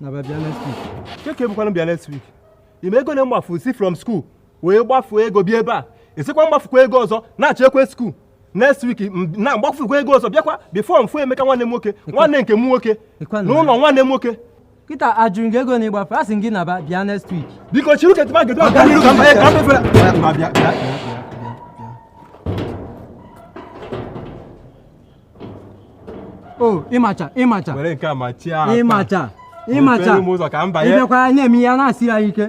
naba bịa next week kee ke bụkwanụ bịa next week ị ma ego na-agbafu si from school wee gbafuo ego bịa ebe a ị sịkwa m gbafukwa ego ọzọ nachikwa school next week na m gbafukwa ego ọzọ bịakwa before m fụ Emeka nwanne m nwoke nwanne nke m nwoke n'ụlọ nwanne m nwoke kịta ajụrụ gị ego na ịgbafe a sị gị naba bịa next week biko chiri uche tụma gedo ọga n'iru ka m banye ka m fere o ịmacha ịmacha were nke a machie aka ịmacha ịmacha mepere m ụzọ ka m banye ịbịakwa anyị na-eme ihe a na-asị ya ike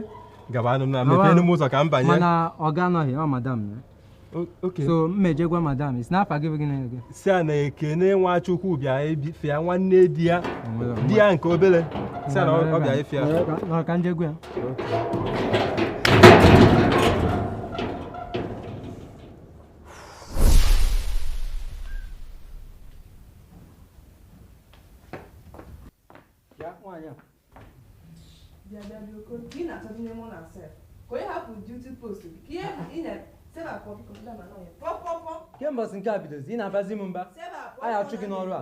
gabanụ m na Gawa. mepere m ụzọ ka m banye mana ọga anọghị ọ madam ya O- okay so m je gwa madam ị sị na afa gị bụ gịnị gị sị ya na Ekene Nwachukwu bịa ịfụ ya nwanne di ya nke obere sị ya na ọ ọ bịa ịfụ ya nọrọ ka m je gwa ya kee mgbe ọsị nke a bidozi ị na-abazi m mba a ya-achụ gị n'ọrụ a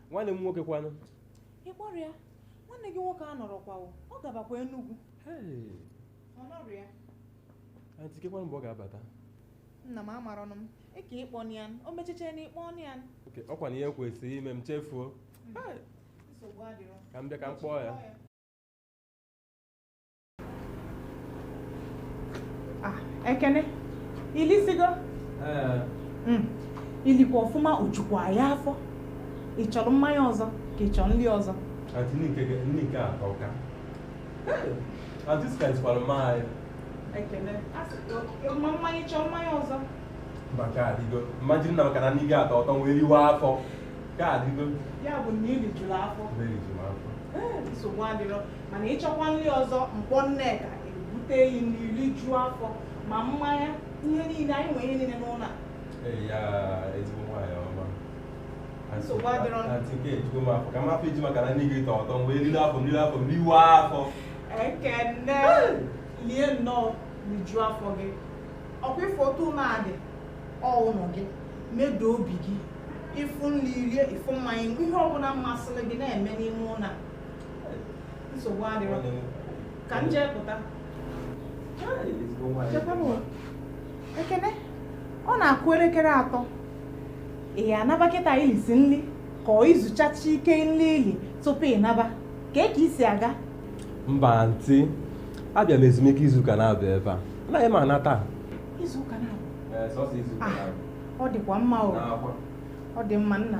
nwanne m nwoke kwanụ ị kpọrọ ya nwanne gị nwoke anọrọkwa o, ọ gabakwa Enugu Hey, ọ nọrọ ya anti kekwanụ mgbe ọ ga-abata nna m amarọnụ m ị ka ịkpọ ya o m cheche na ị kpọ ya okay ọ kwa na ihe kwesịrị ime m chefuo nsogbu adịrọ ka m bịa ka m kpọọ ya Ah, Ekene i lisigo eh. hmm. i likwa ọfụma o jukwa ya afọ ị chọrọ mmanya ọzọ ka ị chọrọ nri ọzọ mmanya ị chọọ mmanya ọzọ mba ka ọ dịgo m ma jiri na maka na nni gị atọ ụtọ wee riwa afọ ka ọ dịgo ya bụ na i rijuru afọ nsogbu adịrọ mana ị chọkwa nri ọzọ m kpọọ Nneka ebute ị nri rijuo afọ ma mmanya ihe niile anyị nwere ihe niile n'ụlọ a Eyaa, ezigbo nwaanyị ọma Nsogbu adịrọ. Antị nke a ejugo m afọ ka m hafụ iji maka na nni gị tọ ụtọ wee riri afọ m riri afọ m riwa afọ Ekene lie nnọọ rijuo afọ gị ọ kwa ị fụ otu ụlọ a dị ọ ụlọ gị medo obi gị ị fụ nri rie ị fụ mmanya ihe ọbụla masịrị gị na-eme n'ime ụlọ a nsogbu adịrọ ka m jee pụta Ekene ọ na-akụ elekere atọ ị ya-anaba kịta i lisi nri ka ọ i zuchacha ike nri i li tupu ị naba ka kee ka i si aga mba anti abịa m ezumike izuụka na-abịa ebe a anaghị m ana taa izuụka na-abịa ọ dịkwa mma ọ dị mma nna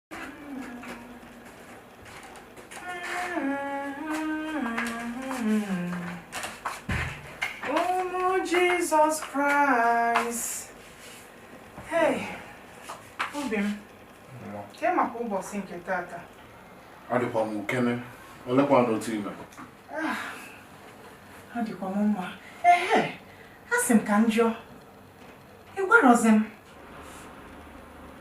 Jesus Christ. Hey, obi m. Ke maka ụbọsị nke tata. Adịkwa m okay nne. Olekwanụ otu i me. Adịkwa m mma. Ehe, asị m ka m jụọ. Ị gwarọzi m?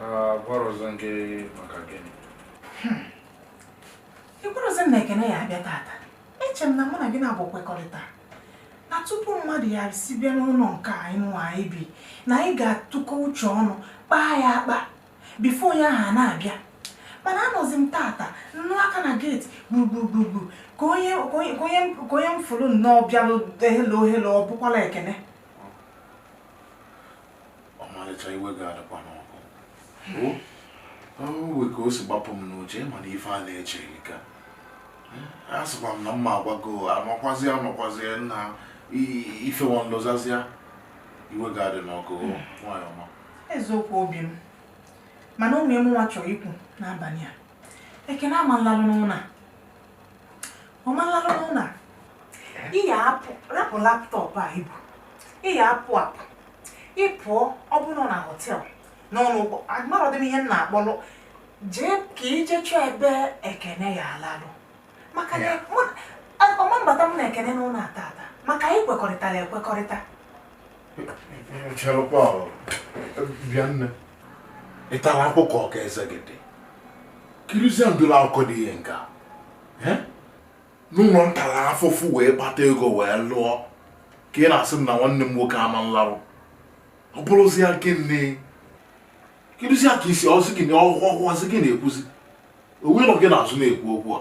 Agwarọzi m gị maka gịnị? Hmm. Ị gwarọzi m na Ekene ya-abịa tata. Eche m na mụ na gị na-abụ kwekọrịta na tupu mmadụ ya-esi bịa n'ụnọ nke anyị nwa anyị bi na anyị ga-atụkọ uche ọnụ kpaa ya akpa before onye ahụ a na-abịa mana anọzi m tata nụ aka na gate gburugburu ka onye m fụlụ nnọọ bịalụ hello hello ọ bụkwala Ekene ọmalịcha iwe gị adịkwana ọkụ o nwe ka o si gbapụ m n'uche mana ife a na-eche ehika asịkwa m na mụ agwago amakwazi amakwazi na ife nwa m lozọzịa iwe gị adịna ọkụ nwanyị ọma eziokwu obi m mana ihe mụnwa chọrọ ikwu n'abalị a Ekene ama nlalụ n'ụnọ ọ ma nlarụ n'ụnọ ị ya-apụ rapụ laptop a i bu ị ya-apụ apụ ị pụọ ọ bụrụ na hotel n'ụlọ ụgbọ amarodị m ihe m na-akpọlụ jee ka i je chọọ ebe Ekene ya-alalụ maka na mụ- a- ọ ma mbata m na Ekene n'ụnọ a tata maka anyị kwekọrịtara ekwekọrịta ị tara akwụkwọ ka eze gị dị kirizie ụdịlị akụkọ dị ihe nke a n'ụnọ m tala afụfụ wee kpata ego wee lụọ ka ị na-asị m na nwanne m nwoke ama nlarụ ọ bụrụzie gịnị kedụzi ka isi ọzụ gị na ọhụhụ ọzụ gị na-ekwuzi onye nọ gị n'azụ na-ekwu okwu a